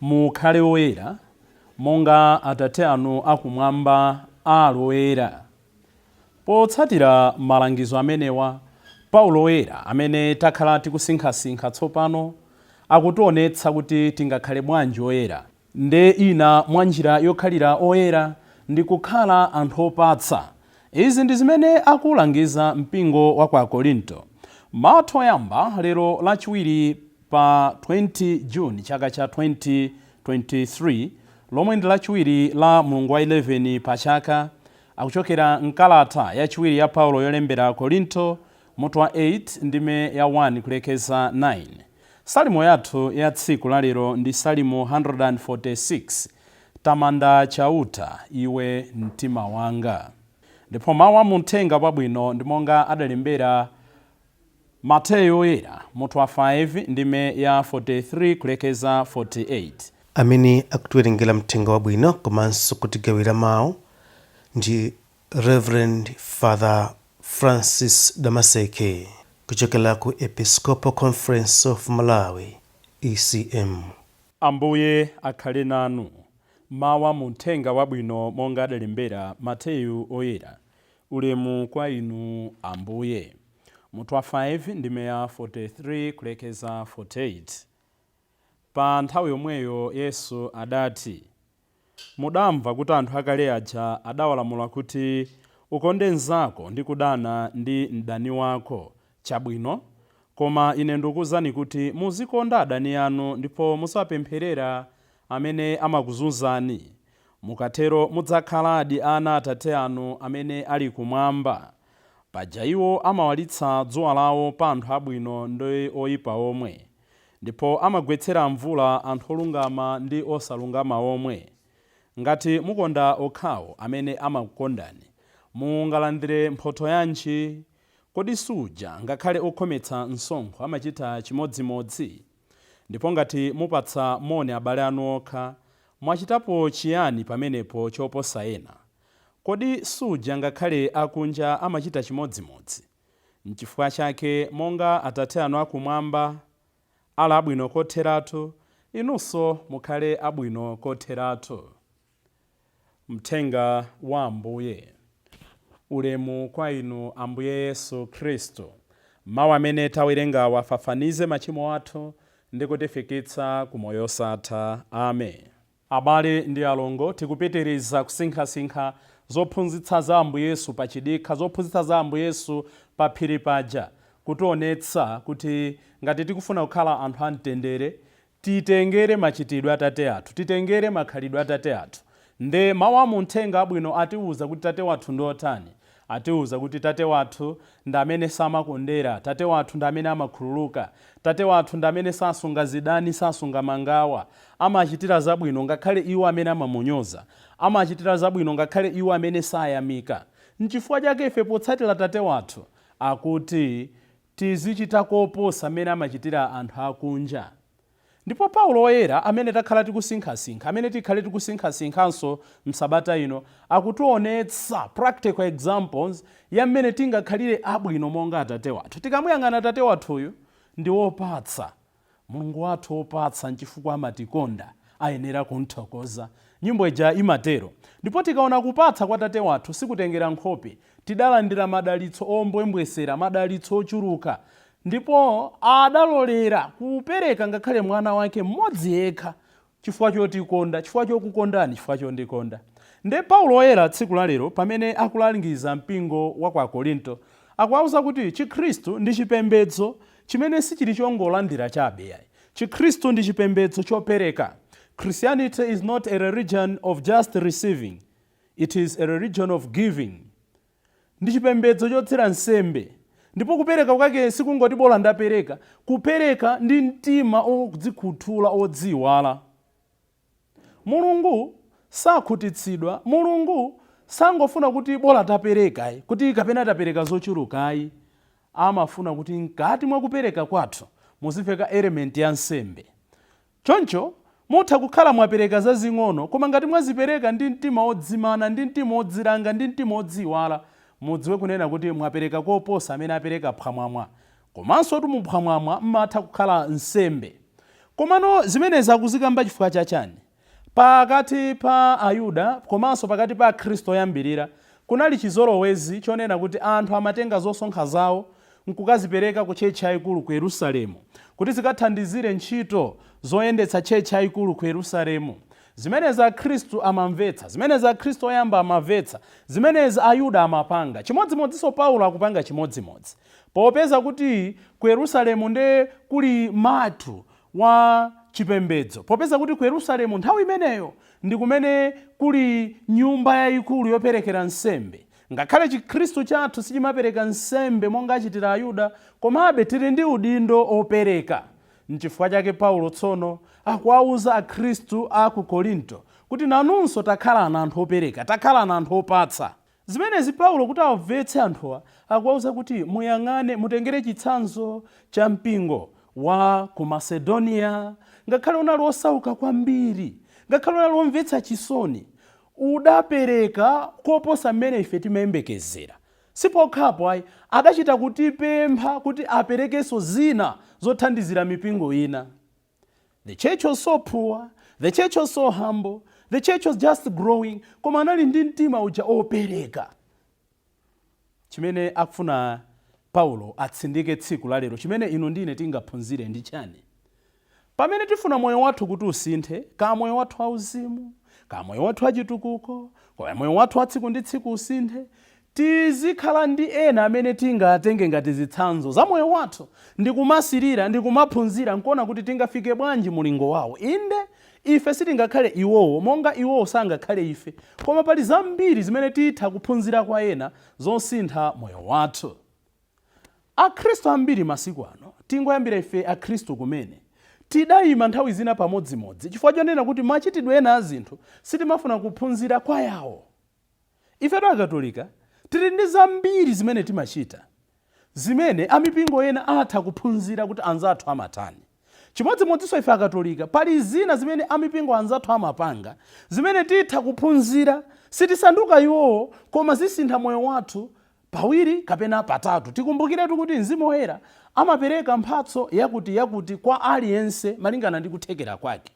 Mukhale oyera, monga Atate anu akumwamba ali oyera. Potsatira malangizo amenewa, Paulo Woyera, amene takhala tikusinkhasinkha tsopano, akutionetsa kuti tingakhale bwanji oyera. Ndiye ina mwa njira yokhalira oyera ndi kukhala anthu opatsa. Izi ndi zimene akuulangiza mpingo wa kwa Akorinto. Mau oyamba, lero lachiwiri pa 20 June chaka cha 2023 lomwe ndi lachiwiri la mlungu wa 11 pa chaka, akuchokera m'kalata yachiwiri ya Paulo yolembera Akorinto, mutu wa 8 ndime ya 1 kulekeza 9. Salimo yathu ya tsiku la lero ndi Salimo 146. Tamanda Chauta, iwe mtima wanga. Ndipo mau a mu Uthenga wabwino ndi monga adalembera Mateyu Woyera, mutu wa 5, ndime ya 43 kulekeza 48. Amene akutiwerengera Mthenga Wabwino komanso kutigawira Mau ndi Reverend Father Francis Damaseke kuchokera ku Episcopal Conference of Malawi, ECM. Ambuye akhale nanu. Mau a mu Mthenga Wabwino monga adalembera Mateyu Woyera. Ulemu kwa Inu, Ambuye. Mutu wa 5, ndime ya 43 kulekeza 48. Pa nthawi imeneyo Yesu adati, Mudamva kuti anthu akale aja adawalamula kuti, Ukonde mnzako ndi kudana ndi mdani wako. Chabwino. Koma Ine ndikuuzani kuti muzikonda adani anu ndipo muziwapempherera amene amakuzunzani. Mukatero mudzakhaladi ana a Atate anu amene ali Kumwamba. Paja iwo amawalitsa dzuwa lawo pa anthu abwino ndi oipa omwe, ndipo amagwetsera mvula anthu olungama ndi osalungama omwe. Ngati mukonda okhawo amene amakukondani, mungalandire mphotho yanji? Kodi suja ngakhale okhometsa msonkho amachita chimodzimodzi? Ndipo ngati mupatsa moni abale anu okha, mwachitapo chiyani pamenepo choposa ena? Kodi suja ngakhale akunja amachita chimodzimodzi? Nchifukwa chake, monga Atate anu akumwamba ali abwino kotheratu, inunso mukhale abwino kotheratu. Mthenga wa Ambuye. Ulemu kwa Inu Ambuye Yesu Khristu. Mau amene tawerengawo afafanize machimo athu ndi kutifikitsa ku moyo osatha. Amen. Abale ndi alongo, tikupitiriza kusinkhasinkha zophunzitsa za Ambuye Yesu pa chidikha, zophunzitsa za Ambuye Yesu pa phiri paja, kutionetsa kuti ngati tikufuna kukhala anthu a mtendere, titengere machitidwe a tate athu, titengere makhalidwe a tate athu. Nde mawu a mu mthenga abwino atiwuza kuti tate wathu ndi otani? Atiwuza kuti tate wathu ndi amene samakondera, tate wathu ndi amene amakhululuka, tate wathu ndi amene sasunga zidani, sasunga mangawa, amachitira zabwino ngakhale iwo amene amamunyoza, amachitira zabwino ngakhale iwo amene sayamika. Nchifukwa chake ife potsatira tate wathu akuti Tizichita koposa mmene amachitira anthu akunja. Ndipo Paulo Woyera, amene takhala tikusinkhasinkha, amene tikhale tikusinkhasinkhanso m'sabata ino, akutionetsa practical examples ya mmene tingakhalire abwino monga Atate wathu. Tikamuyang'ana Atate wathuyu, ndi wopatsa. Mulungu wathu wopatsa nchifukwa amatikonda, ayenera kumthokoza. Nyimbo ija imatero. Ndipo tikaona kupatsa kwa Tate wathu sikutengera nkhope, tidalandira madalitso ombwembwesera, madalitso ochuluka. Ndipo adalolera kupereka ngakhale Mwana wake mmodzi yekha, chifukwa chotikonda, chifukwa chokukondani, chifukwa chondikonda. Nde Paulo Woyera tsiku la lero pamene akulangiza mpingo wa kwa Korinto, akuwauza kuti Chikhristu ndi chipembedzo chimene sichili chongolandira chabe yayi. Chikhristu ndi chipembedzo chopereka. Christianity is not a religion of just receiving, it is a religion of giving. Ndi chipembedzo chotsira nsembe. Ndipo kupereka kwake si kungoti bola ndapereka, kupereka ndi mtima odzikhuthula, odziiwala. Mulungu sakhutitsidwa, Mulungu sangofuna kuti bola tapereka ayi, kuti kapena tapereka zochuluka ayi, amafuna kuti mkati mwa kupereka kwathu muzimveka element ya nsembe. Choncho, mutha kukhala mwapereka zazing'ono, koma ngati mwazipereka ndi mtima wodzimana, ndi mtima wodzilanga, ndi mtima wodziiwala, mudziwe kunena kuti mwapereka koposa amene apereka phwamwamwa. Komansotu mu phwamwamwa m'matha kukhala nsembe. Komano zimenezi akuzikamba chifukwa cha chani? Pakati pa Ayuda komanso pakati pa Akhristu oyambirira, kunali chizolowezi chonena kuti anthu amatenga zosonkha zawo n'kukazipereka ku tchetchi yaikulu ku Yerusalemu kuti zikathandizire ntchito zoyendetsa tchetchi yaikulu ku Yerusalemu. Zimenezi Akhristu amamvetsa. Zimenezi Akhristu oyamba amamvetsa. Zimenezi Ayuda amapanga. Chimodzimodzinso Paulo akupanga chimodzimodzi. Popeza kuti ku Yerusalemu nde kuli mutu wa chipembedzo, popeza kuti ku Yerusalemu nthawi imeneyo ndi kumene kuli nyumba yaikulu yoperekera nsembe, Ngakhale Chikhristu chathu sichimapereka nsembe monga achitira Ayuda, komabe tili ndi udindo opereka. N'chifukwa chake Paulo tsono akuwauza Akhristu a ku Korinto kuti nanunso takhalanani anthu opereka, takhalanani anthu opatsa. Zimenezi Paulo kuti awamvetse anthuwa akuwauza kuti muyang'ane, mutengere chitsanzo cha mpingo wa ku Masedoniya. Ngakhale unali osauka kwambiri, ngakhale unali omvetsa chisoni, udapereka koposa mmene ife timayembekezera. Sipokhapo ayi, adachita kutipempha kuti aperekenso zina zothandizira mipingo ina. The church was so poor, the church was so humble, the church was just growing, koma anali ndi mtima uja opereka. Chimene akufuna Paulo atsindike tsiku la lero, chimene inu ndi ine tingaphunzire ndi chani? Pamene tifuna moyo wathu kuti usinthe, ka moyo wathu wa uzimu, ka moyo wathu wa chitukuko, ka moyo wathu wa tsiku ndi tsiku usinthe, tizikhala ndi ena amene tingatenge ngati zitsanzo za moyo wathu, ndikumasirira ndikumaphunzira nkuona kuti tingafike bwanji mulingo wawo. Inde! Ife sitingakhale iwowo, monga iwowo sangakhale ife, koma pali zambiri zimene titha kuphunzira kwa ena zosintha moyo wathu. Akhristu ambiri masiku ano, tingoyambira ife Akhristu kumene, tidaima nthawi zina pamodzimodzi chifukwa chonena kuti machitidwe ena a zinthu sitimafuna kuphunzira kwa yawo. Ifetu Akatolika tili ndi zambiri zimene timachita zimene amipingo ena atha kuphunzira kuti anzathu amatani. Chimodzimodzinso ife Akatolika pali zina zimene amipingo anzathu amapanga zimene titha kuphunzira. Sitisanduka iwowo koma zisintha moyo wathu pawiri kapena patatu. Tikumbukiretu kuti Mzimu Woyera amapereka mphatso yakuti kwa aliyense malingana ndi kuthekera kwake.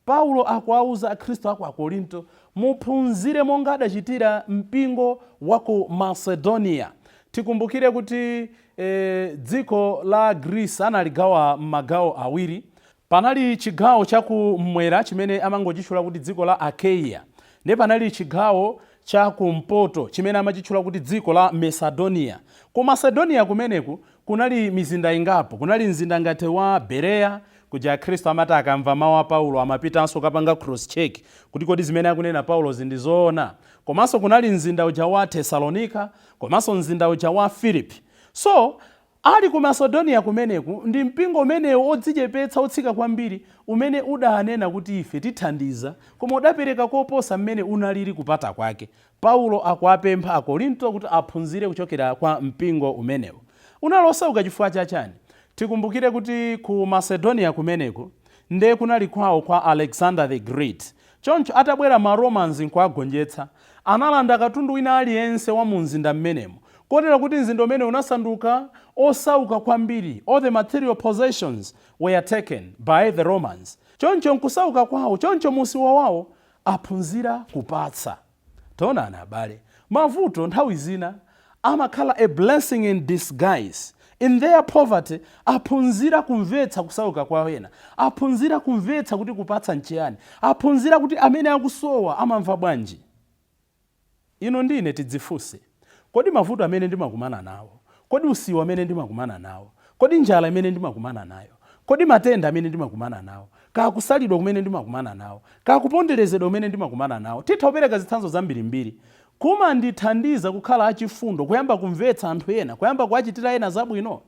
Paulo akuwauza Akhristu a ku Akorinto, Muphunzire monga adachitira mpingo wa ku Masedoniya. Tikumbukire kuti dziko la Greece analigawa m'magawo awiri. Panali chigawo cha kum'mwera chimene amangochitchula kuti dziko la Achaia, ndiye panali chigawo cha kumpoto chimene amachitchula kuti dziko la Masedoniya. Ku Masedoniya kumeneku Kunali mizinda ingapo. Kunali mzinda ngati wa Bereya, kuja Akhristu amati akamva mawu a Paulo amapitanso kapanga cross check kuti kodi zimene akunena Paulozi ndi zoona? Komanso kunali mzinda uja wa Tesalonika komanso mzinda uja wa Filipi. So, ali ku Masedoniya kumeneku ndi mpingo umenewu wodzichepetsa, wotsika kwambiri umene udanena kuti ife tithandiza koma udapereka koposa mmene unaliri kupata kwake. Paulo akuwapempha Akorinto kuti aphunzire kuchokera kwa mpingo umenewo. Unali osauka chifukwa cha chani? Tikumbukire kuti ku Macedonia kumeneku nde kunali kwao kwa Alexander the Great. Choncho atabwera ma Romans nkuwagonjetsa, analanda katundu wina aliyense wa mu mzinda mmenemu kotera kuti mzinda umenewu unasanduka osauka kwambiri, all the material possessions were taken by the Romans. Choncho mkusauka kwao, choncho mu usiwa wao aphunzira kupatsa. Taonani abale, mavuto nthawi zina amakhala a blessing in disguise. In their poverty, aphunzira kumvetsa kusauka kwa ena, aphunzira kumvetsa kuti kupatsa nchiyani, aphunzira kuti amene akusowa amamva bwanji. Inu ndi ine tidzifunse, Kodi mavuto amene ndimakumana nawo, kodi usiwa umene ndimakumana nawo, kodi njala imene ndimakumana nayo, kodi matenda amene ndimakumana nawo, kaya kusalidwa kumene ndimakumana nawo, kaya kuponderezedwa kumene ndimakumana nawo, titha kupereka zitsanzo zambirimbiri, kumandithandiza kukhala achifundo, kuyamba kumvetsa anthu ena, kuyamba kuwachitira ena zabwino?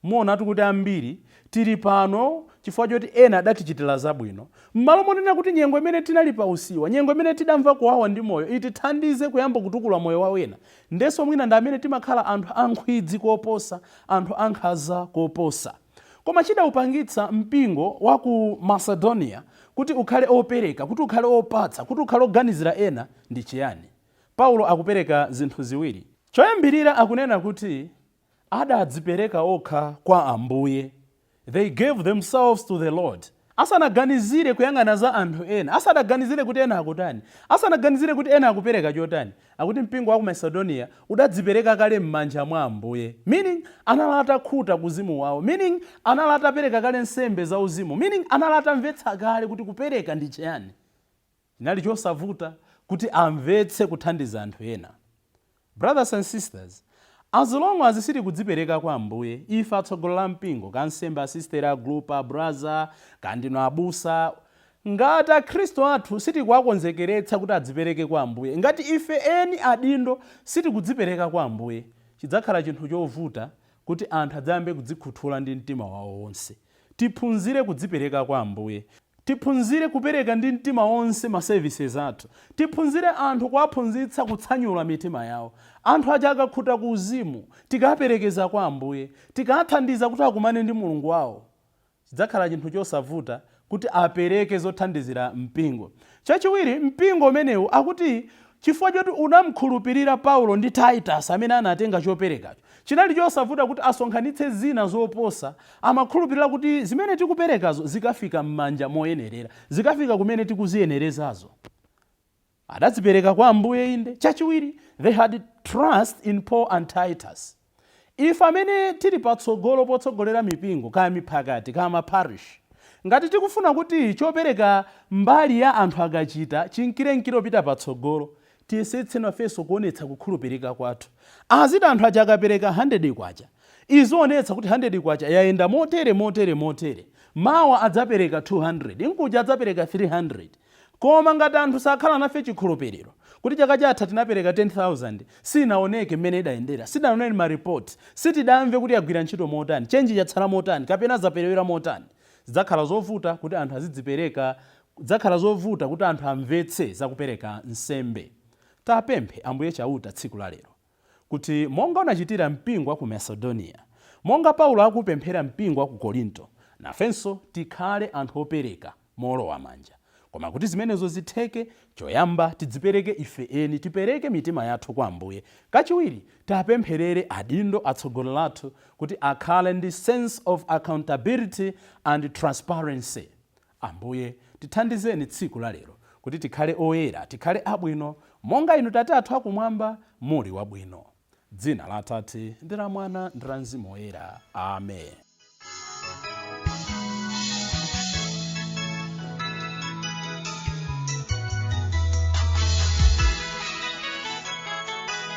Muonatu kuti ambiri tili pano chifukwa choti ena adatichitira zabwino. Mmalo monena kuti nyengo imene tinali pa usiwa, nyengo imene tidamva kuwawa ndi moyo itithandize kuyamba kutukula moyo wa ena, ndenso mwina ndi amene timakhala anthu a nkhwidzi koposa, anthu a nkhaza koposa. Koma chidaupangitsa mpingo wa ku Macedonia kuti ukhale opereka, kuti ukhale opatsa, kuti ukhale oganizira ena ndi chiyani? Paulo akupereka zinthu ziwiri. Choyambirira akunena kuti adadzipereka okha kwa Ambuye, they gave themselves to the Lord, asanaganizire kuyang'ana za anthu ena, asanaganizire kuti ena akutani, asanaganizire kuti ena akupereka chotani, akuti mpingo wa ku Macedonia udadzipereka kale m'manja mwa Ambuye, meaning anali atakhuta ku uzimu wawo, meaning anali atapereka kale nsembe zauzimu, meaning anali atamvetsa kale kuti kupereka ndi chiyani. Chinali chosavuta kuti amvetse kuthandiza anthu ena. Brothers and sisters, as long as sitikudzipereka kwa Ambuye, ife atsogoleli a mpingo, ka ansembe, asisteri, agulupa, abraza, kaya ndinu abusa, ngati akhristu athu sitikuwakonzekeretsa kuti adzipereke kwa Ambuye, ngati ife eni adindo sitikudzipereka kwa Ambuye, chidzakhala chinthu chovuta kuti anthu adzayambe kudzikhuthula ndi mtima wawo wonse. Tiphunzire kudzipereka kwa Ambuye. Tiphunzire kupereka ndi mtima wonse ma services athu. Tiphunzire anthu kuwaphunzitsa kutsanyula mitima yawo. Anthu aja akakhuta ku uzimu, tikawaperekeza kwa Ambuye, tikawathandiza kuti akumane ndi Mulungu wawo, chidzakhala chinthu chosavuta kuti apereke zothandizira mpingo. Chachiwiri, mpingo umenewu akuti Chifukwa choti anam'khulupirira Paulo ndi Titus amene anatenga choperekacho, chinali chosavuta kuti asonkhanitse zina zoposa. Amakhulupirira kuti zimene tikuperekazo zikafika m'manja moyenerera, zikafika kumene tikuziyenerezazo. Adadzipereka kwa Ambuye, inde. Chachiwiri, they had trust in Paul and Titus. Ife amene tili patsogolo potsogolera mipingo kaya miphakati kaya ma parish ngati tikufuna kuti chopereka mbali ya anthu akachita chinkirenkire kupita patsogolo tiyesetse nafenso kuonetsa kukhulupirika kwathu. Aziti anthu aja akapereka K100 izionetsa kuti K100 yayenda motere motere motere. Mawa adzapereka 200 mkuja adzapereka 300. Koma ngati anthu sakhala nafe chikhulupiriro kuti chaka chatha tinapereka 10,000 sinaoneke mmene idayendera, sitidaone ma report, sitidamve kuti yagwira ntchito motani, change chatsala motani kapena zaperewera motani, zidzakhala zovuta kuti anthu azidzipereka dzakhala zovuta kuti anthu amvetse za kupereka nsembe. Tapemphe Ambuye Chauta tsiku la lero. kuti monga unachitira mpingo wa ku Masedoniya, monga Paulo akuupemphera mpingo wa ku Korinto, nafenso tikhale anthu opereka moolowa manja. Koma kuti zimenezo zitheke, choyamba tidzipereke ife eni, tipereke mitima yathu kwa Ambuye, kachiwiri tiapempherere adindo atsogoleri athu kuti akhale ndi sense of accountability and transparency. Ambuye, tithandizeni tsiku la lero kuti tikhale oyera, tikhale abwino, monga Inu Tate athu Akumwamba muli wabwino. Dzina la Atate, ndi la Mwana, ndi la Mzimu Woyera. Amen.